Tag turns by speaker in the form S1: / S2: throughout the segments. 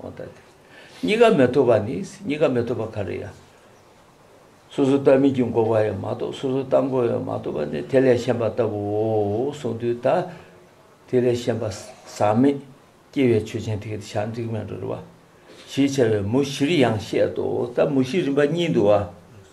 S1: གང་ལྟར་དེ་གཉིས་ཀ་མི་ཐུབ་པ་ནི་གཉིས་ཀ་མི་ཐུབ་པ་ག་རེ་ཡང། སོ་སོ་ལྟ་མིན་གྱི་འགོག་པ་ཡང་མ་གཏོགས་སོ་སོ་ལྟ་འགོག་ཡང་མ་གཏོགས་པ་ནི་དེ་ལས་གཞན་པ་ལྟ་བུའོ་གསུངས་དུས་ད་དེ་ལས་གཞན་པ་ཟག་མེད་སྐྱེ་བའི་ཆོས་ཅན་དེ་ཞག་འཇིག་མེད་འགྲོ་རུ་བ་ཞེས་བྱ་བའི་མུ་བཞིར་ཡང་བཤད་དོ་ད་མུ་བཞི་རིམ་པ་གཉིས་འདུ་བ།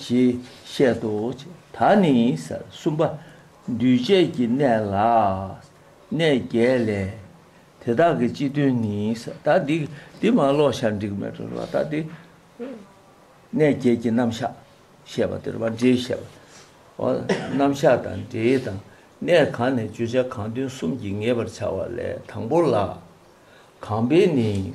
S1: ཞེས་བཤད་དོ། ད་ནི་གསུམ་པ། འདུས་བྱས་ཀྱི་གནས་ལ་གནས་བརྒྱད་ལས། དེ་དག་གི་སྤྱི་དོན་ནི། ད་འདི་འདི་མ་ཀློག་ཤར་འགྲིག་མེད་དོ། ད་འདི། གནས་བརྒྱད་ཀྱི་རྣམ་གཞག་བཤད་པ་འདིར་བ་འདྲེའི་བཤད་པ། རྣམ་གཞག་དང་འདྲེའི་དང་གནས་གང་ནས་བརྗོད་བྱ་གང་དོན་གསུམ་གྱིས་ངེས་པར་བྱ་བ་ལས་དང་པོ་ལ། གང་པའི་ནི།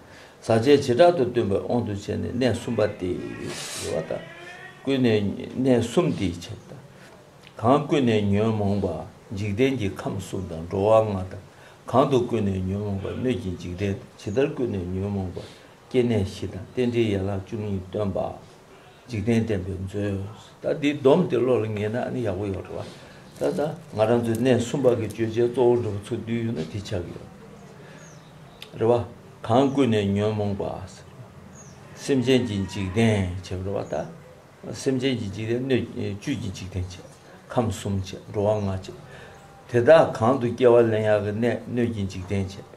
S1: ཟག་བཅས་བྱེ་བྲག་ཏུ་སྟོན་པའི་དབང་དུ་བྱས་ནས་གནས་གསུམ་པ་སྟེ། ཞེས་པ་དང། ཀུན་ནས་གནས་གསུམ་སྟེ་ཞེས་པ་དང། གང་ཀུན་ནས་ཉོན་མོངས་པ་འཇིག་རྟེན་གྱི་ཁམས་གསུམ་དང་འགྲོ་བ་ལྔ་དང། གང་དུ་ཀུན་ནས་ཉོན་མོངས་པ་སྣོད་ཀྱི་འཇིག་རྟེན་དང་ཇི་ལྟར་ཀུན་ནས་ཉོན་མོངས་པ་སྐྱེ་གནས་བཞི་དང་རྟེན་འབྲེལ་ཡན་ལག་བཅུ་གཉིས་སྟོན་པ། འཇིག་རྟེན་བསྟན་པའི་མཛོད། ད་འདི་སྡོམ་དེ་བློ་ལ་ངེས་ན་ནི་ཡག་པོ་ཡོད་རེད་བ། ད་ལྟ་ང་རང་ཚོའི་གནས་གསུམ་པ་གི་བརྗོད་བྱའི་གཙོ་བོ་འགྲོ་བ་ཚུར་འདུས་ཡོད་ན་དེ་ཆགས་ཀྱི་ཡོད་རེད་བ། གང་ཀུན་ནས་ཉོན་མོངས་པ། སེམས་ཅན་གྱི་འཇིག་རྟེན་བྱེད་རེད་བ་ད། སེམས་ཅན་གྱི་འཇིག་རྟེན་སྣོད་བཅུད་ཀྱི་འཇིག་རྟེན་བྱེད། ཁམས་གསུམ་བྱེད་འགྲོ་བ་ལྔ་བྱེད། དེ་དག་གང་དུ་སྐྱེ་བ་ལེན་ཡག་གི་གནས་སྣོད་ཀྱི་འཇིག་རྟེན་བྱེད།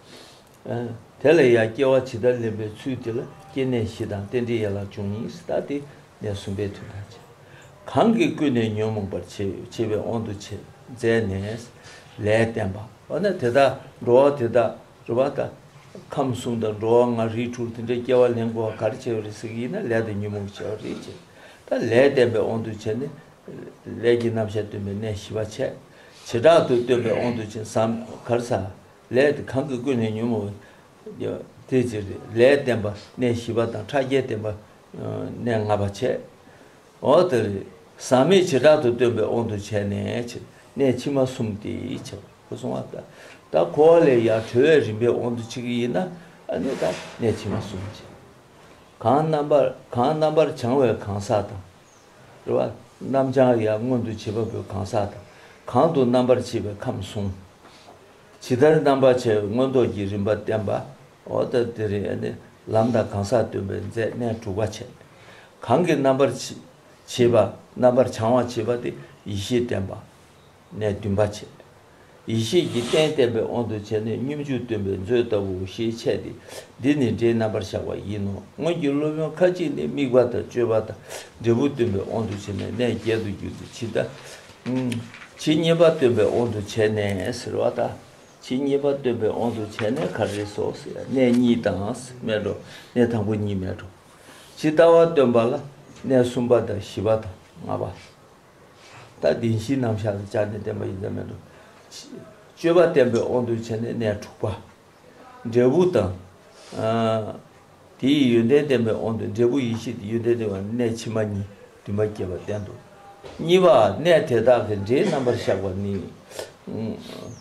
S1: དེ་ལ་ཡང་སྐྱེ་བ་ཇི་ལྟར་ལེན་པའི་ཚུལ་དེ་ལ་སྐྱེ་གནས་བཞི་དང་རྟེན་འབྲེལ་ཡན་ལག་བཅུ་གཉིས་སུ་བརྟགས་ཏེ་གནས་གསུམ་པའི་དོན་དང་བཅས་པ། གང་གིས་ཀུན་ནས་ཉོན་མོངས་པར་བྱེད་པའི་དབང་དུ་བྱས་མཛད་ནས་ལས་བསྟན་པ། འོ་ན་དེ་དག་འགྲོ་བ་དེ་དག་རེ་བ་དང། ཁམས་གསུམ་དང་འགྲོ་བ་ལྔ་རིགས་དྲུག་དེ་འདྲའི་སྐྱེ་བ་ལེན་དགོས་བ་གར་བྱས་པ་རེད་ཟེར་གྱི་ཡིན་ན་ལས་དང་ཉོན་མོངས་ཀྱི་བྱ་བ་རེད་ཅེ་ད་ལས་བསྟན་པའི་དབང་དུ་བྱས་ནས་ལས་ཀྱི་རྣམ་གཞག་སྟོན་པའི་གནས་བཞི་པ། བྱེ་བྲག་ཏུ་སྟོན་པའི་དབང་དུ་བྱས་ན་གར་ཟ། ལས་དེ་གང་གིས་ཀུན་ནས་ཉོན་མོངས་པ། དེའི་ཕྱིར་ལས་བརྟེན་པ་གནས་བཞི་པ་དང་ཕྲ་རྒྱས་བརྟེན་པ་གནས་ལྔ་པ་བྱས། འོག་ཏུ། ཟག་མེད་བྱེ་བྲག་ཏུ་སྟོན་པའི་དབང་དུ་བྱས་ནས། གནས་ཕྱི་མ་གསུམ་སྟེ། གསུམ་བ། ད་གོ་བ་ལས་ཡང་གྲོལ་བའི་རིམ་པའི་དབང་དུ་བྱས་ཀྱི་ཡིན་ན། གནས་ཕྱི་མ་གསུམ། གང་རྣམ་པར་བྱང་བའི་གང་ཟག་དང། རེ་བ་རྣམ་བྱང་ཡང་མངོན་དུ་བྱེད་པ་པོའི་གང་ཟག་དང། གང་དུ་རྣམ་པར་ཕྱེ་བའི་ཁམས་གསུངས། ཇི་ལྟར་རྣམ་པར་ཕྱེ་བའི་མངོན་རྟོགས་ཀྱི་རིམ་པ་བསྟན་པའོ། དེ་རིང་ནི་ལམ་དང་གང་ཟག་སྟོན་པའི་མཛད་གནས་དྲུག་པ་བྱས། གང་གིས་རྣམ་པར་ཕྱེ་བ་རྣམ་པར་བྱང་བར་བྱེད་པ་སྟེ་ཡེ་ཤེས་བསྟན་པ། ནས་བདུན་པ་བྱས། ཡེ་ཤེས་ཀྱི་རྟེན་བརྟེན་པའི་དབང་དུ་བྱས་ནས་སྙོམས་འཇུག་སྟོན་པའི་མཛོད་ལྟ་བུའོ་ཞེས་འཆད་དེ། འདི་ནི་སྒྲའི་རྣམ་པར་བཞག་པ་ཡིན་ནོ། སྔོན་གྱི་སློབ་དཔོན་ཁ་ཅིག་ནི་དམིགས་པ་དང་སྤྱོད་པ་དང་འབྲས་བུ་སྟོན་པའི་དབང་དུ་བྱས་ནས་གནས་བརྒྱད་དུ་བསྒྱུར་ཏེ་ཇི་ལྟ། ཇི་སྙེད་པ་སྟོན་པའི་དབང་དུ་བྱས་ནས་ཟེར་བ་དང། ཇི་སྙེད་པ་སྟོན་པའི་དབང་དུ་བྱས་ནས་གར་རེ་སོགས་ཟེར་ཡང་གནས་གཉིས་དང་མེད་དོ། གནས་དང་པོ་གཉིས་མེད་དོ། ཇི་ལྟ་བ་སྟོན་པ་ལ་གནས་གསུམ་པ་དང་བཞི་པ་དང་ལྔ་པ། ལྟ་བདེན་བཞིའི་རྣམ་གཞག་ལ་སྦྱར་ནས་བསྟན་པ་ཡིན་ཙམ་མེད་དོ། སྤྱོད་པ་བསྟན་པའི་དབང་དུ་བྱས་ནས་གནས་དྲུག་པ། འབྲས་བུ་དང། དེ་ཡི་ཡོན་ཏན་བསྟན་པའི་དབང་དུ་འབྲས་བུ་ཡེ་ཤེས་ཀྱི་ཡོན་ཏན་བསྟན་པ་གནས་ཕྱི་མ་གཉིས་དུ་མ་སྐྱེས་པར་བསྟན་ཏོ། གཉིས་པ། གནས་དེ་དག་གི་འབྲས་རྣམ་པར་གཞག་པ་ནི།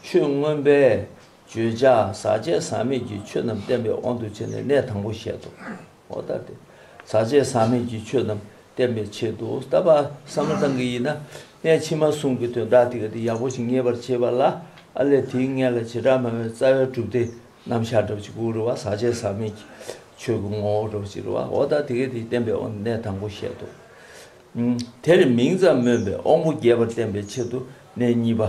S1: ཆོས་མངོན་པས་བརྗོད་བྱ་ཟག་བཅས་ཟག་མེད་ཀྱི་ཆོས་རྣམས་བསྟན་པའི་དབང་དུ་བྱས་ནས་གནས་དང་པོ་བཤད་དོ། ཨོ་ད་སྟེ། ཟག་བཅས་ཟག་མེད་ཀྱི་ཆོས་རྣམས་བསྟན་པའི་ཆེད་དུ་བལྟ་བ་ས་མ་ཚང་གི་ཡིན་ན། གནས་ཕྱི་མ་གསུམ་གྱི་དོན་དག་དེ་ག་དེ་ཡག་པོ་ཞིག་ངེས་པར་བྱེད་པ་ལ་ཨ་ལས་དེའི་མངལ་ལ་བྱེ་བྲག་མ་བའི་རྩ་བའི་གྲུབ་སྟེ་རྣམ་གཞག་འདྲ་བ་གཅིག་པུ་རུ་བ་ཟག་བཅས་ཟག་མེད་ཀྱི་ཆོས་ཀྱི་ངོ་བོ་འདྲ་བ་གཅིག་རུ་བའོ་ད་དེ་ག་དེའི་བསྟན་པའི་དབང་གནས་དང་པོ་བཤད་དོ། དེར་མིང་ཙམ་སྨོས་པས་དབང་པོ་རྒྱས་པར་བསྟན་པའི་ཆེད་དུ་གནས་གཉིས་པ་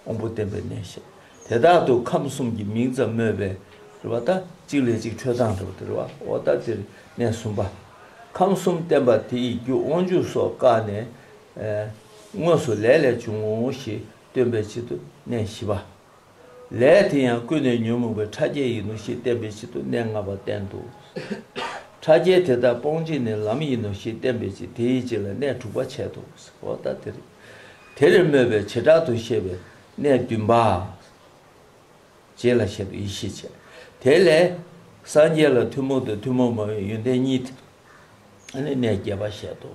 S1: དབང་པོ་བསྟན་པའི་གནས་བཤད། དེ་དག་ཏུ་ཁམས་གསུམ་གྱི་མིང་ཙམ་སྨོས་པས་རེ་བ་ལྟ་གཅིག་ལས་གཅིག་འཕྲོས་དང་འདྲ་བ་སྟེ་རེ་བ་འོ་ལྟ་སྟེར་གནས་གསུམ་པ། ཁམས་གསུམ་བསྟན་པ་དེ་ཡི་རྒྱུ་དབང་ཕྱུག་སོགས་བཀག་ནས། དངོས་སུ་ལས་ལས་བྱུང་ངོ་ཞེས་སྟོན་པའི་ཕྱིར་དུ་གནས་བཞི་པ། ལས་དེ་ཡང་ཀུན་ནས་ཉོན་མོངས་པའི་ཕྲ་རྒྱས་ཡིན་ནོ་ཞེས་བསྟན་པའི་ཕྱིར་དུ་གནས་ལྔ་པ་བསྟན་ཏོ། ཕྲ་རྒྱས་དེ་དག་སྤོང་བྱེད་ནི་ལམ་ཡིན་ནོ་ཞེས་བསྟན་པའི་ཕྱིར་དེའི་རྗེས་ལ་གནས་དྲུག་པ་འཆད་དོ། འོ་ལྟ་སྟེར། དེར་སྨོས་པའི་བྱེ་བྲག་ཏུ་བཤད་པའི་གནས་བདུན་པ། རྗེས་ལ་བཤད་དོ་ཡེ་ཤེས་ཆེ། དེ་ལས་སངས་རྒྱས་ལ་ཐུན་མོང་དང་ཐུན་མོང་མ་བའི་ཡོན་ཏན་གཉིས། ཨ་ནི་གནས་བརྒྱད་པ་བཤད་དོ།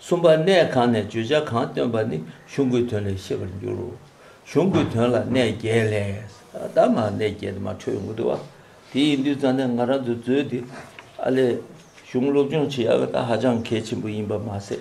S1: གསུམ་པ་གནས་གང་ནས་བརྗོད་བྱ་གང་སྟོན་པ་ནི་གཞུང་གི་དོན་ལས་ཤེས་པར་འགྱུར་རོ། གཞུང་གི་དོན་ལ་གནས་བརྒྱད་ལས། ད་མ་གནས་བརྒྱད་དུ་མ་འཕྲོས་ངོ་ཏི་བ། དེ་ཡིན་དུས་རྩ་ནས་ང་རང་ཚོས་མཛོད་འདི་ཨ་ལས་གཞུང་སློབ་སྦྱོང་བྱེད་ཡག་གི་ད་ཧ་ཅང་གལ་ཆེན་པོ་ཡིན་པ་མ་ཟད།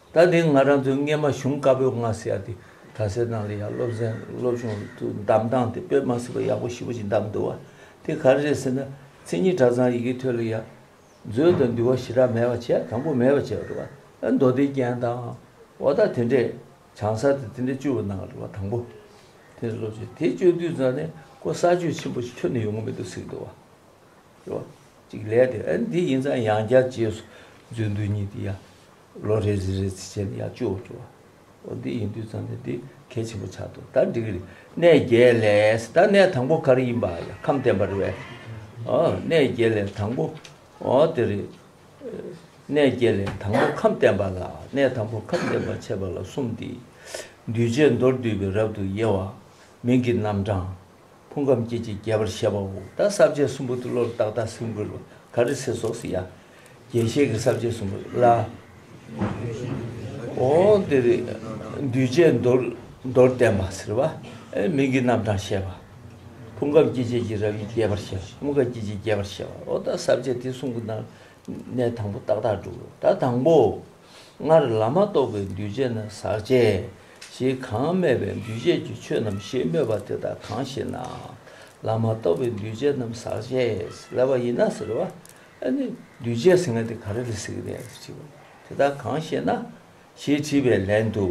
S1: ད་དེང་ང་རང་ཚོའི་སྔས་མ་གཞུང་དཀར་པོའི་ང་ཟེར་ཡག་དེ་གྲྭ་སའི་ནང་ལ་ཡང་སློབ་ཟན་སློབ་སྦྱོང་དུ་འདམ་བཏང་སྟེ་པོད་མ་ཟེར་བ་ཡག་པོ་ཞིབ་པོ་ཅིག་འདམ་འདུག་བ་དེ་ག་རེ་རེད་ཟེར་ན་མཚན་ཉིད་གྲྭ་ཚང་ཡི་གེ་ཐོས་ལ་ཡང་མཛོད་དང་འདུལ་བ་ཞེ་དྲག་མེད་པ་བྱས་དང་པོ་མེད་པ་བྱས་པ་རེད་བ་མདོ་སྡེའི་རྒྱན་དང་འོ་ད་དེ་འདྲས་བྱང་ས་དེ་དེ་འདྲས་བཅོས་བ་གནང་རེད་བ་དང་པོ་དེ་འདྲས་སློབ་སྦྱོང་དེ་བཅོས་དུས་ཚང་ནས་ཀོ་ས་ཆོས་ཆེན་པོ་ཞིག་ཁྱོན་ནས་ཡོང་གི་མི་འདུག་ཟེར་གི་འདུག་བ་རེད་བ་ཅིག་ལས་དེ་འདི་ཡིན་ཙང་ཡང་བསྐྱར་རྗེས་སུ་མཛོད་འདུལ་གཉིས་དེ་ཡང་ལོ་རེ་རེ་རེ་ཚིགས་བཅད་ནི་ཡང་བཅུའོ་བཅུ་བ། ཨོ་འདི་ཡིན་དུས་ཙམ་ནས་འདི་གལ་ཆེན་པོ་ཆགས་འདུག་ད་འགྲིག་གི་རེད། གནས་བརྒྱད་ལས་ད་གནས་དང་པོ་ག་རེ་ཡིན་པ་ཡང་ཁམས་བསྟན་པ་རེད་བས། ཨོ་གནས་བརྒྱད་ལས་དང་པོ་ཨོ་དེ་རེད། གནས་བརྒྱད་ལས་དང་པོ་ཁམས་བསྟན་པ་ལ་གནས་དང་པོ་ཁམས་བསྟན་པར་འཆད་པ་ལ་གསུམ་སྟེ། འདུས་བྱས་མདོར་བསྡུས་པའི་རབ་ཏུ་དབྱེ་བ། མིང་གི་རྣམ་གྲངས། ཕུང་ཁམས་སྐྱེ་མཆེད་རྒྱས་པར་བཤད་པའོ། ད་ས་བཅད་གསུམ་པོ་ཏི་ལོར་བཏགས་བདག་སེམས་ཀུན་ལ་ག་རི་སེ་སོགས་སུ་ཡང། རྒྱས་བཤད་ཀྱི་ས་བཅད་གསུམ་པོ་ལ། འོ་དེ་རི་འདུས་བྱས་མདོར་མདོར་བསྟན་པ་ཟེར་བ། མིང་གི་རྣམ་གྲངས་བཤད་པ། ཕུང་ཁམས་སྐྱེ་མཆེད་ཀྱི་རབ་ཡིན་རྒྱས་པར་བཤད་པ་ཕུང་ཁམས་སྐྱེ་མཆེད་རྒྱས་པར་བཤད་པའོ། ད་ས་བཅད་དེ་གསུམ་པོ་ནང་ནས་དང་པོ་བཏགས་བདག་སྒྲུབ་བོ། ད་དང་པོ། སྔར་ལམ་མ་གཏོགས་པའི་འདུས་བྱས་ནི་ཟག་བཅས་ཞེས་གང་སྨྲས་པས་འདུས་བྱས་ཀྱི་ཆོས་རྣམས་ཞེས་སྨོས་པ་དེ་དག་གང་ཞེ་ན། ལམ་མ་གཏོགས་པའི་འདུས་བྱས་རྣམས་ཟག་བཅས་སླད་པ་ཡིན་ན་ཟེར་བ། ཨ་ནི་འདུས་བྱས་ཟེར་ན་དེ་ག་རེ་ལ་ཟེར་གྱི་ཡིན་ཞེས་དྲིས་པ། དེ་དག་གང་ཞེ་ན། ཞེས་དྲིས་པའི་ལན་དུ།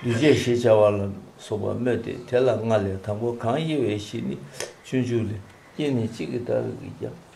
S1: འདུས་བྱས་ཞེས་བྱ་བ་ལ་སོགས་པ་སྨོས་ཏེ་དེ་ལ་ལྔ་ལས་དང་པོ་གང་དབྱེ་བའི་གཞི་ནི་སྤྱོད་འཇུག་ལས་དབྱེ་ནས་གཅིག་གི་བདག་རིག་གིས་ཀྱང།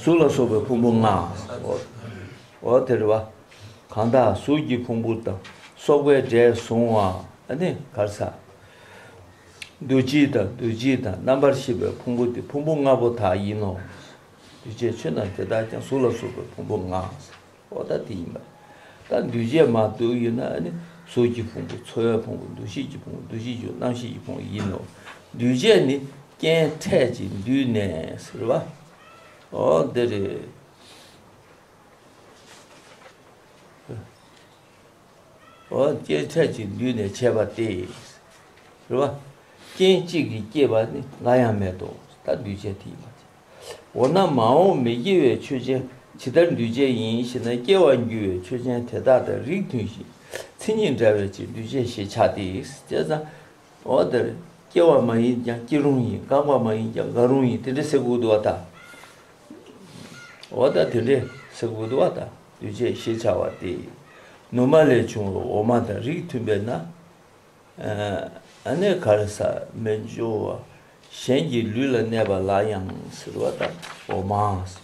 S1: གཟུགས་ལ་སོགས་པའི་ཕུང་པོ་ལྔ། འོ་དེ་རེ་བ། གང་དག་གཟུགས་ཀྱི་ཕུང་པོ་དང་སོགས་པའི་སྒྲས་གཟུང་བ་ནི་གར་ཟ། འདུ་བྱེད་དང་འདུ་བྱེད་དང་རྣམ་པར་ཤེས་པའི་ཕུང་པོ་དེ་ཕུང་པོ་ལྔ་པོ་དག་ཡིན་ནོ། འདུ་བྱེད་ཆོས་རྣམས་དེ་དག་ཀྱང་གཟུགས་ལ་སོགས་པའི་ཕུང་པོ་ལྔ། འོ་ད་དེ་ཡིན་པ། ད་འདུས་བྱས་མ་བསྡུ་ཡིན་ན་ནི་གཟུགས་ཀྱི་ཕུང་པོ་ཚོར་བའི་ཕུང་པོ་འདུ་ཤེས་ཀྱི་ཕུང་པོ་འདུ་བྱེད་ཀྱི་རྣམ་ཤེས་ཀྱི་ཕུང་པོ་ཡིན་ནོ། འདུས་བྱས་ནི་རྐྱེན་འཕྲད་ཅིང་འདུས་ནས་ཟེར་བ། འོ་འདི་རེད། འོ་རྐྱེན་འཕྲད་ཅིང་འདུས་ནས་བྱས་པ་སྟེ། ཟེར་བ། རྐྱེན་གཅིག་གིས་བསྐྱེད་པ་ནི་འགའ་ཡང་མེད་དོ། ད་འདུས་བྱས་དེ་ཡིན་པ། འོ་ན་མ་འོངས་མི་སྐྱེ་བའི་ཆོས་ཅན་ཇི་ལྟར་འདུས་བྱས་ཡིན་ཞེ་ན་སྐྱེ་བར་འགྱུར་བའི་ཆོས་ཅན་དེ་དག་དང་རིགས་མཐུན་ཞིང་མཚན་ཉིད་འདྲ་བའི་ཕྱིར་འདུས་བྱས་ཞེས་བྱ་སྟེ། ཅེས་དང། འོ་དེ་ལ་སྐྱེ་བ་མ་ཡིན་ཀྱང་སྐྱེ་རུང་ཡིན་འགག་པ་མ་ཡིན་ཀྱང་འགག་རུང་ཡིན་དེ་འདྲའི་སེ་གོལ་དུ་བ་དང། འོ་ད་དེ་འདྲའི་སེ་གོལ་དུ་བ་དང་འདུས་བྱས་ཞེས་བྱ་བ་སྟེ། ནུ་མ་ལས་བྱུང་བའི་འོ་མ་དང་རིགས་མཐུན་པས་ན། གནས་ག་རེ་ས་མི་འབྱོར་བ་གཞན་གྱི་ལུས་ལ་གནས་པ་ལ་ཡང་ཟེར་བ་དང་འོ་མ་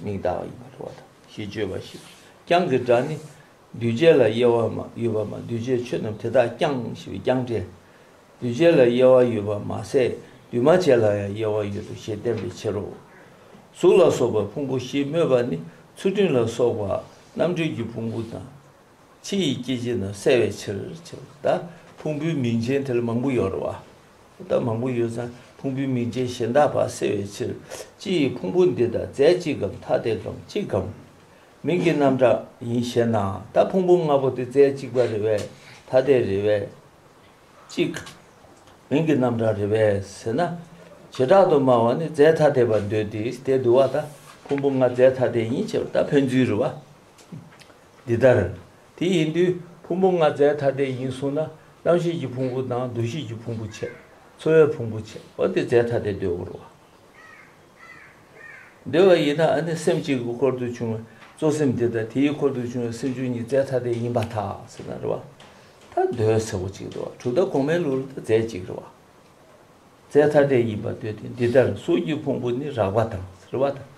S1: མིག་དག་ཡིན་པར་བ་དང་ཞེས་བརྗོད་པ་ཞིག་རྐྱང་གི་སྒྲ་ནི། འདུས་བྱས་ལ་དབྱེ་བ་ཡོད་པ་མ་འདུས་བྱས་ཆོས་རྣམས་དེ་དག་རྐྱང་ཞེས་པའི་རྐྱང་སྒྲས། འདུས་བྱས་ལ་དབྱེ་བ་ཡོད་པ་མ་ཟད་འདུས་མ་བྱས་ལ་ཡང་དབྱེ་བ་ཡོད་དོ་ཞེས་བསྟན་པའི་ཕྱིར་རོ། གཟུགས་ལ་སོགས་པའི་ཕུང་པོ་ཞེས་སྨོས་པ་ནི་ཚུལ་ཁྲིམས་ལ་སོགས་པ་རྣམ་གྲོལ་གྱི་ཕུང་པོ་དང། ཕྱི་ཡི་སྐྱེ་མཆེད་རྣམས་བསལ་བའི་ཕྱིར། ཕུང་པོའི་མིང་ཅན་དེ་ལ་མང་པོ་ཡོད་རེ་བ། མང་པོ་ཡོད་ཙང་ཕུང་པོའི་མིང་ཅན་གཞན་དག་པར་བསལ་བའི་ཕྱིར། ཕྱི་ཡི་ཕུང་པོ་འདི་དག་རྫས་གཅིག་གམ་ཐ་དད་གམ་གཅིག་གམ། མིང་གི་རྣམ་གྲངས་ཡིན་ཞེ་ན། ད་ཕུང་པོ་ལྔ་པོ་དེ་རྫས་གཅིག་པ་རེ་བས་ཐ་དད་རེ་བས་གཅིག། མིང་གི་རྣམ་གྲངས་རེ་བས་ཟེར་ན། བྱེ་བྲག་ཏུ་སྨྲ་བ་ནི་རྫས་ཐ་དད་པར་འདོད་དེ་དེ་བསྡུ་བ་ད་ཕུང་པོ་ལྔ་རྫས་ཐ་དད་ཡིན་ཞེས་པ་ད་ཕན་ཚུན་རེ་བ། འདི་ལྟར། དེ་ཡིན་དུས་ཕུང་པོ་ལྔ་རྫས་ཐ་དད་ཡིན་གསུངས་ན་རྣམ་ཤེས་ཀྱི་ཕུང་པོ་དང་འདུ་ཤེས་ཀྱི་ཕུང་པོ་ཆད། ཚོར་བའི་ཕུང་པོ་ཆད་པ་དེ་རྫས་ཐ་དད་འདོད་བོར་བ། འདོད་བ་ཡིན་ན་ནི་སེམས་གཅིག་གི་འཁོར་དུ་བྱུང་བའི་གཙོ་སེམས་དེ་དང་དེའི་འཁོར་དུ་བྱུང་བའི་སེམས་བཅུ་གཉིས་རྫས་ཐ་དད་ཡིན་པ་དག་ཟེར་ན་རེ་བ། ད་འདོད་ཟེར་བ་གཅིག་རེ་བ་དྲུག་ཟླ་གོང་མའི་ལུགས་ལ་ད་རྫས་གཅིག་རེ་བ། རྩའི་ཐ་དད་ཡིན་པར་འདོད་དེ་འདི་ལྟར་གཟུགས་ཀྱི་ཕུང་པོ་ནི་རགས་པ་དང་རིལ་བ་དང།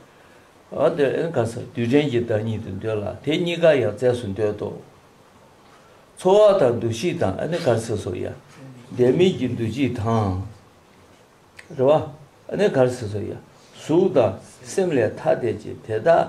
S1: རྡུལ་ཕྲན་གྱི་བདག་ཉིད་དུ་འདོད་ལ་དེ་གཉིས་ཀ་ཡང་རྩས་སུ་འདོད་དོ། ཚོར་བ་དང་འདུ་ཤེས་དང་ཨ་ནི་གར་སིལ་སོགས་ཡང། བདེན་མེད་ཀྱི་འདུ་བྱེད་དང། རེ་བ་ཨ་ནི་གར་སིལ་སོགས་ཡང་གཟུགས་དང་སེམས་ལས་ཐ་དད་ཅིང་དེ་དག།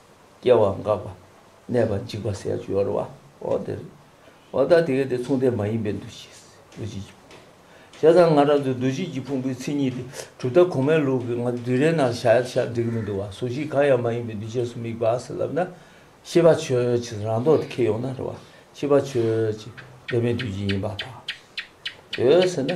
S1: སྐྱེ་བ་འགག་པ། གནས་པ་འཇིག་པ་ཟད་སྦྱོར་བ། འོ་དེ་རེད། འོ་ད་དེ་གལ་ཏེ་མཚུངས་ལྡན་མ་ཡིན་པའི་འདུ་བྱེད། འདུ་བྱེད་ཀྱི་ཕུང་པོ། བྱས་ཙང་ང་རང་ཚོའི་འདུ་བྱེད་ཀྱི་ཕུང་པོའི་མཚན་ཉིད་དེ་གྲུབ་མཐའ་གོང་མའི་ལུགས་ཀྱི་ང་དུས་རེའི་ནང་ཤར་ཡར་ཤར་འགྲིག་གི་མི་འདུག་བ་གཟུགས་གཞི་གང་ཡང་མ་ཡིན་པའི་འདུས་བྱས་སུ་དམིགས་པ་ཟེར་ལབ་ན། ཤེས་པ་ཆོས་ཀྱི་རང་མདོག་དེ་ཁེལ་ཡོང་ན་རེད་བ། ཤེས་པ་ཆོས་ཀྱི་གདོད་མའི་འདུས་བྱས་ཡིན་པ་དང། འོད་ཟེར་ནི།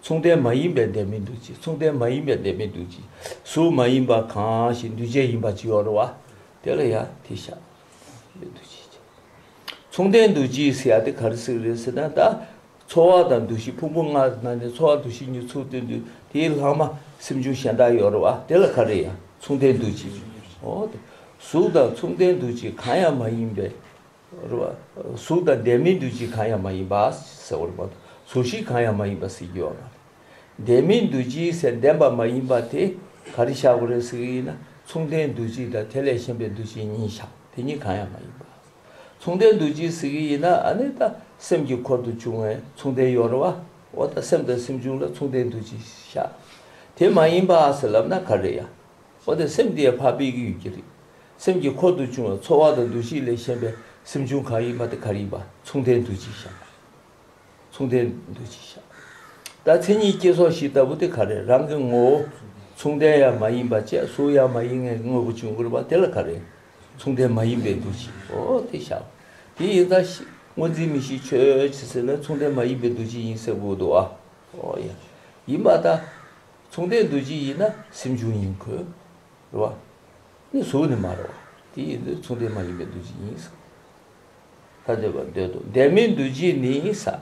S1: མཚུངས་ལྡན་མ་ཡིན་པའི་ལྡན་མིན་འདུ་བྱེད་མཚུངས་ལྡན་མ་ཡིན་པའི་ལྡན་མིན་འདུ་བྱེད་གཟུགས་མ་ཡིན་པ་གང་ཞིག་འདུས་བྱས་ཡིན་པར་བགྱི་བར་རོ། དེ་ལ་ཡང་དེ་ཤ་ཡི་འདུ་བྱེད་ཀྱི། མཚུངས་ལྡན་འདུ་བྱེད་ཡི་སེ་ཡ་དེ་ག་རི་སི་རི་སི་ན་ད། ཚོར་བ་དང་འདུ་ཤེས་ཕུང་པོ་ལྔ་ན་ནི་ཚོར་བ་འདུ་ཤེས་གཉིས་མཚུངས་ལྡན་འདུས་དེའི་ལྷག་མ་སེམས་བྱུང་གཞན་དག་ཡོད་རོ། དེ་ལ་ག་རེ་ཡང་མཚུངས་ལྡན་འདུ་བྱེད་བགྱིའོ། གཟུགས་དང་མཚུངས་ལྡན་འདུ་བྱེད་གང་ཡང་མ་ཡིན་པའི་རུ། གཟུགས་དང་ལྡན་མིན་འདུ་བྱེད་གང་ཡང་མ་ཡིན་པ། ཟེར་བ་རུ། གཟུགས་ཤིག་གང་ཡང་མ་ཡིན་པ་ཟེར་རྒྱུ་ཡོད་ན། ལྡན་མིན་འདུ་བྱེད་ཟེར་ལྡན་པ་མ་ཡིན་པ་དེ་ག་རེ་བཞག་གོ་རེ་ཟེར་གྱི་ཡིན་ན་མཚུངས་ལྡན་འདུ་བྱེད་དང་དེ་ལས་གཞན་པའི་འདུ་བྱེད་གཉིས་བཞག་དེ་གཉིས་གང་ཡང་མ་ཡིན་པ། མཚུངས་ལྡན་འདུ་བྱེད་ཟེར་གྱི་ཡིན་ན་ཨ་ནི་ད་སེམས་ཀྱི་འཁོར་དུ་བྱུང་བའི་མཚུངས་ལྡན་ཡོད་རུ་བ་འོ་ད་སེམས་དང་སེམས་བྱུང་ལ་མཚུངས་ལྡན་འདུ་བྱེད་བཞག་དེ་མ་ཡིན་པ་ཟེར་ལབ་ན་ག་རེ་ཡང། འོ་དེ་སེམས་དེ་ཡང་འཕགས་པའི་ཡུལ་ཡོད་ཀྱི་རེད། སེམས་ཀྱི་འཁོར་དུ་བྱུང་བའི་ཚོར་བ་དང་འདུ་ཤེས་ལས་གཞན་པའི་སེམས་བྱུང་གང་ཡིན་པ་དེ་གར་ཡིན་པ་མཚུངས་ལྡན་འདུ་བྱེད་བཞག་པ་རེད། མཚུངས་ལྡན་འདུ་བྱེད་བཞག་པ་རེད། ད་མཚན་ཉིད་སྐྱེ་སོགས་བཞི་ལྟ་བུ་དེ་ག་རེད་རང་གི་ངོ་བོ། མཚུངས་ལྡན་ཡང་མ་ཡིན་པ་བཅས་གཟུགས་ཡང་མ་ཡིན་ངའི་དངོས་པོ་བྱུང་དགོས་པ་དེ་ལ་ག་རེད། མཚུངས་ལྡན་མ་ཡིན་པའི་འདུ་བྱེད་འོ་དེ་བཞག་པ། དེ་ཡིན་ཙང་སྔོ་འཛིན་མི་ཤེས་ཆོས་ཅེས་ཟེར་ན་མཚུངས་ལྡན་མ་ཡིན་པའི་འདུ་བྱེད་ཡིན་ཟེར་དགོས་འདུག་ཨ། ཨོ་ཡ། ཡིན་པ་ད། མཚུངས་ལྡན་འདུ་བྱེད་ཡིན་ན་སེམས་བྱུང་ཡིན་དགོས། རེད་བ། ནི་གཟུགས་ནི་མ་རེད་བ། དེ་ཡིན་དུས་མཚུངས་ལྡན་མ་ཡིན་པའི་འདུ་བྱེད་ཡིན། ས་ཐ་འདོད་པར་འདོད་དོ། ལྡན་མིན་འདུ་བྱེད་ནི་ས།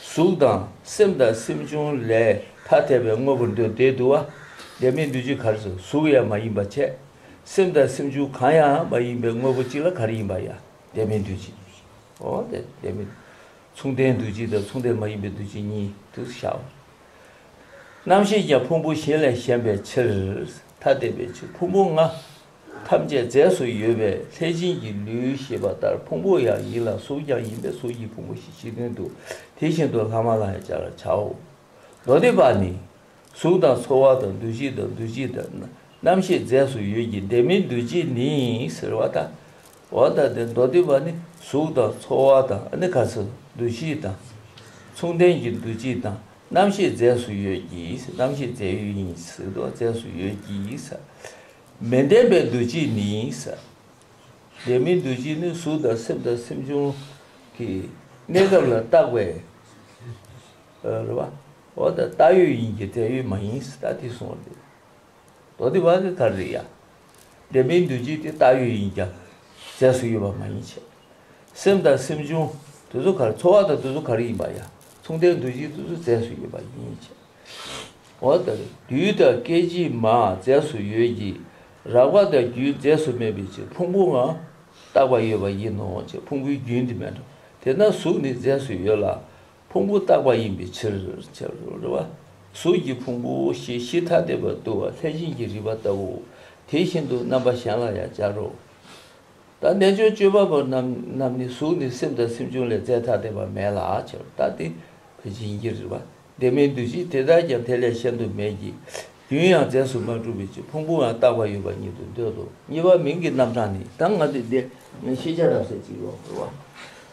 S1: གཟུགས་དང་སེམས་དང་སེམས་བྱུང་ལས་ཐ་དད་པའི་དངོས་པོར་འདོད་དེ་དུ་བ། ལྡན་མིན་འདུ་བྱེད་གར་སོ་གཟུགས་ཡང་མ་ཡིན་པ་ཆད། སེམས་དང་སེམས་བྱུང་གང་ཡང་མ་ཡིན་པའི་དངོས་པོ་གཅིག་ལ་གར་ཡིན་པ་ཡང་ལྡན་མིན་འདུ་བྱེད། འོ་ལྡན་མིན། མཚུངས་ལྡན་འདུ་བྱེད་དང་མཚུངས་ལྡན་མ་ཡིན་པའི་འདུ་བྱེད་གཉིས་དུ་བྱའོ། རྣམ་ཤེས་ཀྱང་ཕུང་པོ་བཞི་ལས་གཞན་པའི་ཕྱིར། ཐ་དད་པའི་ཕྱིར་ཕུང་པོ་ལྔ། ཐམས་ཅད་རྫས་སུ་ཡོད་པས་ལྷས་བྱིན་གྱི་ལུས་ཞེས་པ་ལྟར་ཕུང་པོ་ཡང་ཡིན་ལ་གཟུགས་ཀྱང་ཡིན་པས་གཟུགས་ཀྱི་ཕུང་པོ་བཞི་ཕྱི་དོན་དུ་དེ་བཞིན་དུ་ལྷག་མ་ལ་ཡང་སྦྱར་བར་བྱའོ། མདོ་སྡེ་པ་ནི། གཟུགས་དང་ཚོར་བ་དང་འདུ་བྱེད་དང་འདུ་བྱེད་དང་རྣམ་ཤེས་རྫས་སུ་ཡོད་ཀྱི་ལྡན་མིན་འདུ་བྱེད་ནི་ཟེར་བ་དག་བ་དང་དེ་མདོ་སྡེ་པ་ནི་གཟུགས་དང་ཚོར་བ་དང་ནི་ག་ཚོད་འདུ་བྱེད་དང། མཚུངས་ལྡན་གྱི་འདུ་བྱེད་དང་རྣམ་ཤེས་རྫས་སུ་ཡོད་ཀྱིས་རྣམ་ཤེས་རྫས་ཡོད་ཡིན་སྲིད་དོ་རྫས་སུ་ཡོད་ཀྱིས། མི་ལྡན་པའི་འདུ་བྱེད་ནི། ལྡན་མིན་འདུ་བྱེད་ནི་གཟུགས་དང་སེམས་དང་སེམས་བྱུང་གི་གནས་སྐབས་ལ་བཏགས་པའི་རེ་བ། བ་དང་བཏགས་ཡོད་ཡིན་གྱི་བྲལ་ཡོད་མ་ཡིན་སྲིད་ད་དེ་གསུངས་བ་འདི་མདོ་སྡེ་པ་གི་གར་རེད་ཡ། བདེན་པའི་འདུ་བྱེད་དེ་བཏགས་ཡོད་ཡིན་ཀྱང་རྫས་སུ་ཡོད་པ་མ་ཡིན་ཕྱིར། སེམས་དང་སེམས་བྱུང་དུ་གཟུགས་གར་ཚོར་བ་དང་དུ་གཟུགས་གར་ཡིན་པ་ཡང་མཚུངས་ལྡན་འདུ་བྱེད་དུ་གཟུགས་རྫས་སུ་ཡོད་པ་ཡིན་ཕྱིར། འོ་ན་རྡུལ་དང་སྐད་ཅིག་མ་རྫས་སུ་ཡོད་ཀྱི་རགས་པ་དང་རྒྱུན་རྫས་སུ་མེད་པའི་ཕྱིར་ཕུང་པོ་འང་བཏགས་པ་ཡོད་པ་ཡིན་ནོ་ཅེས་ཕུང་པོའི་རྒྱུན་དེ་མེད་དོ། དེས་ན་གཟུགས་ནི་རྫས་སུ་ཡོད་ལ། ཕུང་པོ་རྟག་པ་ཡིན་པའི་ཕྱིར། གཟུགས་ཀྱི་ཕུང་པོ་ཞེས་གཞི་ཐ་དད་པར་འདུ་བ་ལྷས་བྱིན་གྱིས་རིག་པ་ལྟ་བུ་དེ་བཞིན་དུ་རྣམ་པ་གཞན་ལ་ཡང་སྦྱར་རོ། ད་རྣལ་འབྱོར་སྤྱོད་པ་པོ་རྣམས་ནི་གཟུགས་ནི་སེམས་དང་སེམས་བྱུང་ལས་རྫས་ཐ་དད་པ་མེད་ལ་ཕྱིར་རྟག་སྟེ་ལྷས་བྱིན་གྱིས་རིག་པ་བདེན་མིན་འདུ་བྱེད་དེ་དག་ཀྱང་དེ་ལས་གཞན་དུ་མེད་ཀྱི། རྒྱུན་ཡང་རྫས་སུ་མ་གྲུབ་པའི་ཕྱིར་ཕུང་པོའང་རྟག་པར་ཡོད་པ་ཉིད་དུ་འདོད་དོ། གཉིས་པ་མིང་གི་རྣམ་གྲངས་ནི། ད་ང་དུས་འདི་ནི་ཤེས་བྱ་རབ་གསལ་གྱི་ཡོངས་སུ་བ།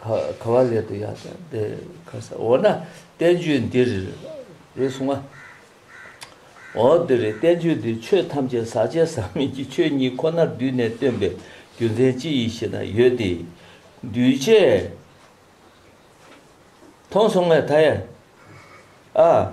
S1: ག་བ་ལས་དུ་ཡ་ད་དེ་ཁ་ས་འོ་ན་བསྟན་བཅོས་འདིར་རེ་གསུང་ང། འོ་དེ་རེ་བསྟན་བཅོས་འདི་ཆོས་ཐམས་ཅད་ཟག་བཅས་ཟག་མེད་ཀྱི་ཆོས་ཉིད་ཁོ་ནར་བསྡུས་ནས་སྟོན་པའི་རྒྱུ་མཚན་ཅི་ཡིན་ཞེ་ན་ཡོད་དེ། འདུས་བྱས་མཐོང་སོང་ངས་ད་ཡ། ཨ།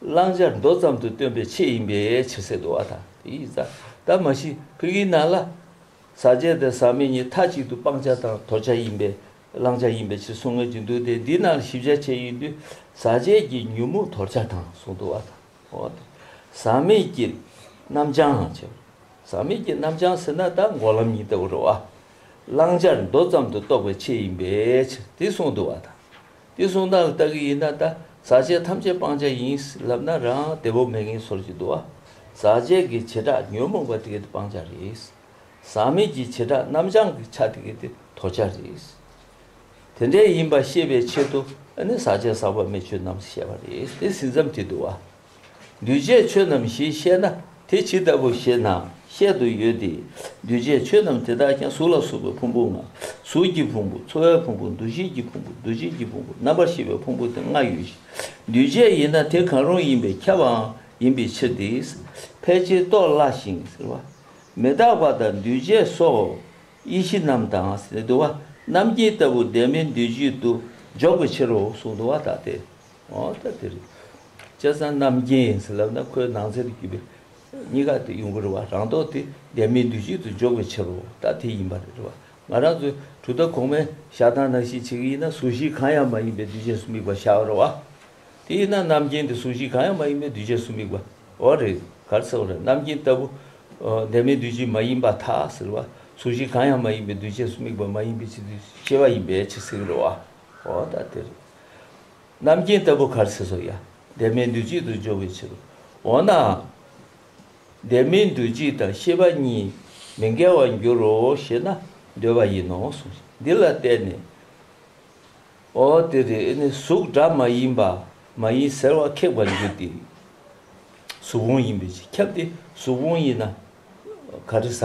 S1: བླང་བྱ་མདོ་ཙམ་དུ་སྟོན་པའི་ཆེད་ཡིན་པས་ཕྱི་སེར་དུ་བ་དང་དེ་ཡིས་བཟའ། ད་མ་ཤི་ཕུ་གིའི་ནང་ལ། ཟ་བྱེད་དང་ཟ་མི་གཉིས་མཐའ་གཅིག་ཏུ་སྤང་བྱ་དང་དོར་བྱ་ཡིན་པས་བླང་བྱ་ཡིན་པའི་ཕྱིར་གསུང་མངོན་གྱི་འདུག་སྟེ་འདིའི་ནང་ལ་ཞིབ་ཆ་ཆེ་ཡོད་དུས་ཟ་བྱེད་ཀྱི་ཉོན་མོངས་དོར་བྱ་དང་གསུང་དུ་བ་དང་བོ་བ་དང། ཟ་མི་གྱི་རྣམ་བྱང་ཅེས་པ། ཟ་མི་གྱི་རྣམ་བྱང་ཟེར་ན་ད་འགོག་ལམ་ཉིད་ལྟ་བུར་རོ། བླང་བྱར་མདོ་ཙམ་དུ་གཏོགས་པའི་ཆེད་ཡིན་པའི་ཕྱིར་དེ་གསུང་དུ་བ་དང། དེ་གསུང་སྟངས་ལ་ལྟ་གི་ཡིན་ན་ད་ཟག་བཅས་ཐམས་ཅད་སྤང་བྱ་ཡིན་ལབ་ན་རང་བདེ་བོ་མེད་ངེས་ཚོར་གྱི་འདུག་བ། ཟག་བཅས་ཀྱི་བྱེ་བྲག་ཉོན་མོངས་པ་དེ་གའི་སྤང་བྱ་རེད། ཟག་མེད་ཀྱི་བྱེ་བྲག་རྣམ་བྱང་གི་ཆ་དེ་གའི་དོར་བྱ་རེད། དེ་འདྲའི་ཡིན་པ་ཤེས་པའི་ཆེད་དུ་ཨ་ནི་ཟག་བཅས་ཟག་པ་མེད་ཆོས་རྣམས་ཞེས་པ་རེད་དེ་ཟིན་མཚམས་དེ་འདུག་བ། འདུས་བྱས་ཆོས་རྣམས་ཞེས་བཤད་ན་དེ་ཇི་ལྟ་བུ་ཞེ་ན་བཤད་དུ་ཡོད་དེ། འདུས་བྱས་ཆོས་རྣམས་དེ་དག་ཀྱང་གཟུགས་ལ་སོགས་པའི་ཕུང་པོ་ལྔ། གཟུགས་ཀྱི་ཕུང་པོ་འཚོ་བའི་ཕུང་པོ་འདུ་ཤེས་ཀྱི་ཕུང་པོ་འདུ་བྱེད་ཀྱི་ཕུང་པོ་རྣམ་པར་ཤེས་པའི་ཕུང་པོ་དེ་ལྔ་ཡོད་ཅིང་འདུས་བྱས་ཡིན་ན་དེ་གང་རུང་ཡིན་པས་ཁྱབ་པའང་ཡིན་པའི་ཕྱིར་ཏེ། ཕལ་ཆེར་རྟོགས་སླ་ཞིང། མི་རྟག་པ་དང་འདུས་བྱས་སོགས་ཡེ་ཤེས་རྣམས་དང། དུ་བ་རྣམ་མཁྱེན་ལྟ་བུ་བདེན་མེད་འདུས་བྱས་དུ་འཇོག་པའི་ཕྱིར་རོ་གསུངས་དུ་བ་དག་སྟེ། ཨོ་ད་དེ་རེད། སྐྱ་བཟང་རྣམ་རྒྱལ་ཡིན་ཟེར་ལབ་ན་ཁོའི་ནང་ཚན་དུ་བརྒྱུད་པའི་གཉིས་ཀ་དེ་གཡུང་དྲུང་རེད་བ། རང་མདོག་དེ་འདས་མའི་འདུལ་བྱེད་དུ་འཇོག་པའི་ཕྱིར་རོ། ད་དེ་ཡིན་པ་རེད་བ། ང་རང་ཚོའི་གྲུབ་མཐའ་གོང་མའི་ཞག་ཐང་ནང་ཞིག་བྱེད་ཀྱི་ཡིན་ན་ཟུར་བཞི་གང་ཡང་མ་ཡིན་པའི་འདུལ་བྱེད་སུ་དམིགས་པ་བཞག་རོགས་བ། དེ་ཡིན་ན་རྣམ་རྒྱལ་འདི་ཟུར་བཞི་གང་ཡང་མ་ཡིན་པའི་འདུལ་བྱེད་སུ་དམིགས་པ་འོ་རེད་གར་ཚེ་འོ་རེད་རྣམ་རྒྱལ་ལྟ་བུ། འདས་མའི་འདུལ་བྱེད་མ་ཡིན་པ་ཐ་ཟེར་བ། ཟུར་བཞི་གང་ཡང་མ་ཡིན་པའི་འདུལ་བྱེད་སུ་དམིགས་པ་མ་ཡིན་པའི་ཕྱིར་འདུལ་བྱེད་བ་ཡིན་པའི་ཕྱིར་ཟེར་གི་རེད་བ། ཨོ་ད་དེ་རེད། རྣམ་མཁྱེན་ལྟ་བུ་གར་སྲིད་སོགས་ཡང་འདས་མའི་འདུས་བྱས་དུ་འཇོག་པའི་ཕྱིར་རོ། འོ་ན། འདས་མའི་འདུས་བྱས་དང་ཤེས་པ་གཉིས་མི་འགལ་བར་འགྱུར་རོ་ཞེ་ན་འདོད་པ་ཡིན་ནོ་གསུངས་ཤིང་འདི་ལ་བརྟེན་ནས། འོ་དེ་རེ་ནི་གཟུགས་སྒྲ་མ་ཡིན་པ་མ་ཡིན་ཟེར་བ་ཁེགས་པར་འགྱུར་ཏེ། གཟུགས་བོང་ཡིན་པའི་ཕྱིར་ཁྱབ་སྟེ་གཟུགས་བོང་ཡིན་ན་ག་རེ་ཟ།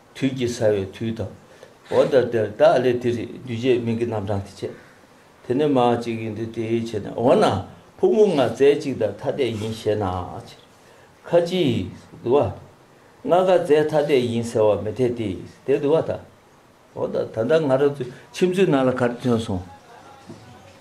S1: དུས་ཀྱི་ཟ་བའི་དུས་དང། འོ་ད་དེར་བདག་ལས་དེ་རིགས་འདུས་བྱས་མིང་གི་རྣམ་གྲངས་དེ་བྱས། དེ་ནི་མ་ཅིག་ཡིན་ཏེ་དེའི་ཕྱེད་ནི་འོ་ན་ཕུག་མོ་ལྔ་རྩེ་གཅིག་དང་ཐ་དད་ཡིན་ཞེ་ན། ཁ་ཅིག། བསྡུ་བ། ལྔ་ཀ་རྩེ་ཐ་དད་ཡིན་ཟེར་བ་མི་འཐད་དེ། དེ་བསྡུ་བ་དང། འོ་ད་ད་ལྟ་ང་རང་ཚོའི་ཁྱིམ་མཚེས་ནང་ལ་ག་རེ་ཐོན་སོང།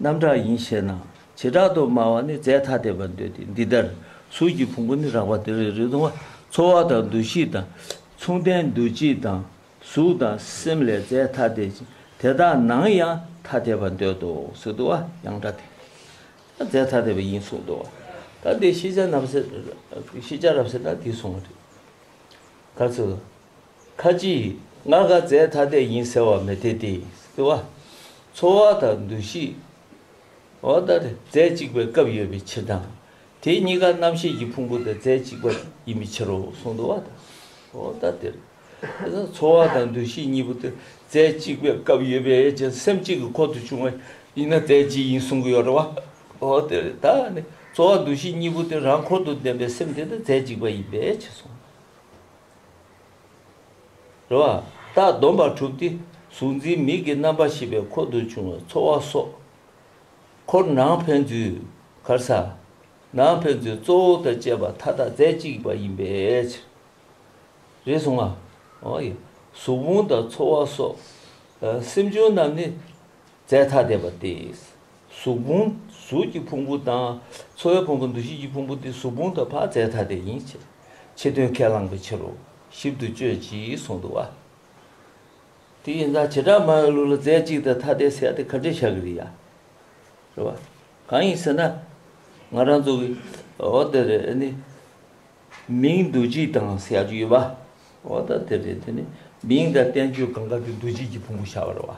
S1: རྣམ་དག་ཡིན་ཞེ་ན། བྱེ་བྲག་ཏུ་སྨྲ་བ་ནི་རྫས་ཐ་དད་པར་འདོད་དེ་འདི་ལྟར། གཟུགས་ཀྱི་ཕུང་པོ་ནི་རགས་པ་དེ་རེ་རེ་དང། ཚོར་བ་དང་འདུ་ཤེས་དང། མཚུངས་ལྡན་འདུ་བྱེད་དང། གཟུགས་དང་སེམས་ལས་རྫས་ཐ་དད་ཅིང་དེ་དག་ནང་ཡང་ཐ་དད་པར་འདོད་དོ་ཟེར་དུ་བ་ཡང་འདྲ་སྟེ། རྫས་ཐ་དད་པ་ཡིན་གསུངས་དུ་བ། ད་འདིར་ཤེས་བྱ་རྣམས། ཤེས་བྱ་རབ་ཟེར་ན་འདིས་གསུངས་པ་རེད། ག་ཚོད། ཁ་ཅིག། ང་དགའ་མཛད་ཐ་དད་ཡིན་ཟེར་བ་མི་དེ་སྟེ། འཚོ་བ་དང་འདུ་ཤེས། མཛད་གཅིག་པའི་སྐབས་ཡོད་པའི་ཕྱིར་དང། དེ་གཉིས་ཀ་རྣམ་ཤེས་ཀྱི་ཕུང་པོ་དང་མཛད་གཅིག་པ་ཡིན་པའི་ཕྱིར་རོ་གསུངས། འཚོ་བ་དང་འདུ་ཤེས་གཉིས་པོ་དེ་མཛད་གཅིག་པའི་སྐབས་ཡོད་པའི་ཕྱིར་སེམས་གཅིག་གི་འཁོར་དུ་བྱུང་བ་ཡིན་ན་མཛད་གཅིག་ཡིན་གསུང་གི་ཡོད་རེད། ད་ནི་འཚོ་བ་འདུ་ཤེས་གཉིས་པོ་དེ་རང་འཁོར་དུ་ལྡན་པའི་སེམས་དེ་ནི་མཛད་གཅིག་པ་ཡིན་པའི་ཕྱིར་གསུངས། རེ་བ། རྟགས་སྡོམ་པ་དྲུག་སྟེ་གཟུགས་འཛིན་མིག་གི་རྣམ་པ་བཞི་པའི་འཁོར་དུ་བྱུང་བའི་ཚོར་བ་སོགས། འཁོར་ནང་ཕན་ཚུན་གར་ས། ནང་ཕན་ཚུན་གཙོ་བོ་དང་བཅས་པ་མཐའ་དག་རྫས་གཅིག་པ་ཡིན་པའི་ཕྱིར། རེ་ཟུང་ང། གཟུགས་ཕུང་དང་ཚོར་བ་སོགས། སེམས་བྱུང་རྣམས་ནི་རྫས་ཐ་དད་པ་སྟེ། གཟུགས་ཕུང་གཟུགས་ཀྱི་ཕུང་པོ་དང། ཚོར་བའི་ཕུང་པོ་འདུ་ཤེས་ཀྱི་ཕུང་པོ་སྟེ་གཟུགས་ཕུང་དང་བག་རྫས་ཐ་དད་ཡིན་ཕྱིར། ཕྱི་དོན་ཁས་བླངས་པའི་ཕྱིར་རོ། ཞིབ་ཏུ་དཔྱོད་ཅེས་གསུངས་འདུག་བ། དེ་ཡིན་ཙང་བྱེ་བྲག་སྨྲ་བའི་ལུགས་ལ་རྫས་གཅིག་དང་ཐ་དད་ཟེར་ཏེ་ཁ་བྲལ་བྱ་གི་རེད་ཡ། རེད་བ། གང་ཡིན་ཟེར་ན། ང་རང་ཚོ་གི་འོ་དེ་རེད་དེ་ནི། མིང་འདུ་བྱེད་དང་ཟེར་ཡག་རྒྱུ་ཡོད་བ། འོ་ད་དེ་རེད་དེ་ནི་མིང་དང་བསྟན་བཅོས་གང་དགར་གྱི་འདུ་བྱེད་ཀྱི་ཕུང་པོ་བྱ་བ་རེད་བ།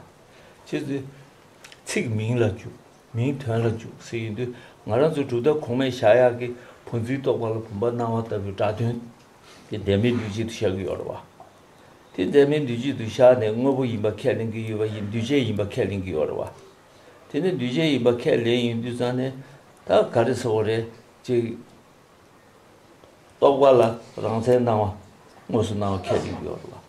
S1: ཕྱིས་སུ། ཚིག་མིང་ལ་འཇུག། མིང་དོན་ལ་འཇུག་ཟེར་ཡི་འདུག་ང་རང་ཚོ་གྲུབ་མཐའ་གོང་མའི་བྱ་གཡག་གི་བུ་འཛིན་རྟོག་པ་ལ་བུམ་པ་སྣང་བ་ལྟ་བུའི་སྒྲ་དོན་དེ་འབྲལ་མེད་འདུས་བྱས་དུ་བཞག་གི་ཡོད་རེད་བ། དེ་འབྲལ་མེད་འདུས་བྱས་དུ་བཞག་ནས་དངོས་པོ་ཡིན་པ་ཁས་ལེན་གྱི་ཡོད་པ་ཡིན་འདུས་བྱས་ཡིན་པ་ཁས་ལེན་གྱི་ཡོད་རེད་བ། དེ་ནས་འདུས་བྱས་ཡིན་པ་ཁས་ལེན་ཡིན་དུས་ཙང་ནས་ད་ག་རེ་ཟེར་བ་རེད་ཅེས་རྟོག་པ་ལ་རང་མཚན་སྣང་བ་དངོས་སུ་སྣང་བ་ཁས་ལེན་གྱི་ཡོད་རེད་བ།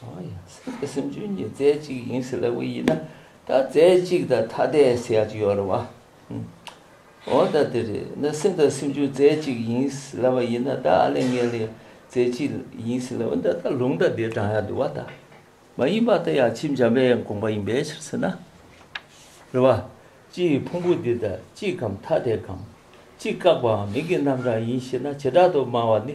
S1: ཡང་སེམས་ཅན་གྱི་རྫས་གཅིག་ཡིན་ཟེར་ལབ་གི་ཡིན་ན་ད་རྫས་གཅིག་དང་ཐ་དད་ཟེར་ཡག་གི་ཡོད་རེད་བ། འོ་ད་དེ་རེད་ན་སེམས་དང་སེམས་ཅན་རྫས་གཅིག་ཡིན་ཟེར་ལབ་པ་ཡིན་ན་ད་ཨ་ལས་ངས་ལས་རྫས་གཅིག་ཡིན་ཟེར་ལབ་ན་ད་ལུང་ད་དེ་བགྲང་ཡག་འདུག་བ་ད། མ་ཡིན་པ་ད་ཡང་ཁྱིམ་འཇམ་པའི་དགོངས་པ་ཡིན་པའི་ཕྱིར་ཟེར་ན། རེད་བ། སྤྱི་ཡི་ཕུང་པོ་འདི་ད་གཅིག་གམ་ཐ་དད་གམ། གཅིག་བཀག་པའམ་མིང་གི་རྣམ་གྲངས་ཡིན་ཞེ་ན་བྱེ་བྲག་ཏུ་སྨྲ་བ་ནི།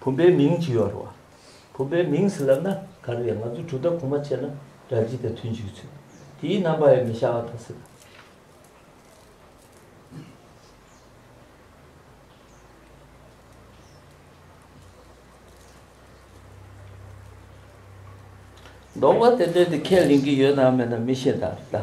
S1: བུམ་པའི་མིང་ཇི་ཡོར་བ། བུམ་པའི་མིང་ཟི་ལབ་ན་ག་རེ་ཡང་ང་ཚོས་གྲུ་བདག་གོང་མ་ཆད་ན་དགྲ་བགྱིད་དེ་ཐུན་བྱུགས་ཚུལ། དེའི་རྣམ་པ་ཡང་མི་ཤ་བ་དང་སྲིད། འདོགས་པ་དེ་འདྲའི་དེ་ཁས་ལེན་གྱི་ཡོད་དམ་མེད་ན་མི་ཤེས་ད་རེད་ད།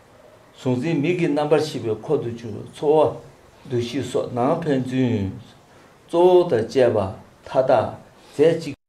S1: གཟུང་འཛིན་མིག་གི་རྣམ་པར་ཤེས་པའི་འཁོར་དུ་གྱུར་ཚོར་བ་འདུ་ཤེས་སོགས་ནང་ཕན་ཚུན་གཙོ་བོ་དང་བཅས་པ་མཐའ་དག་རྫས་གཅིག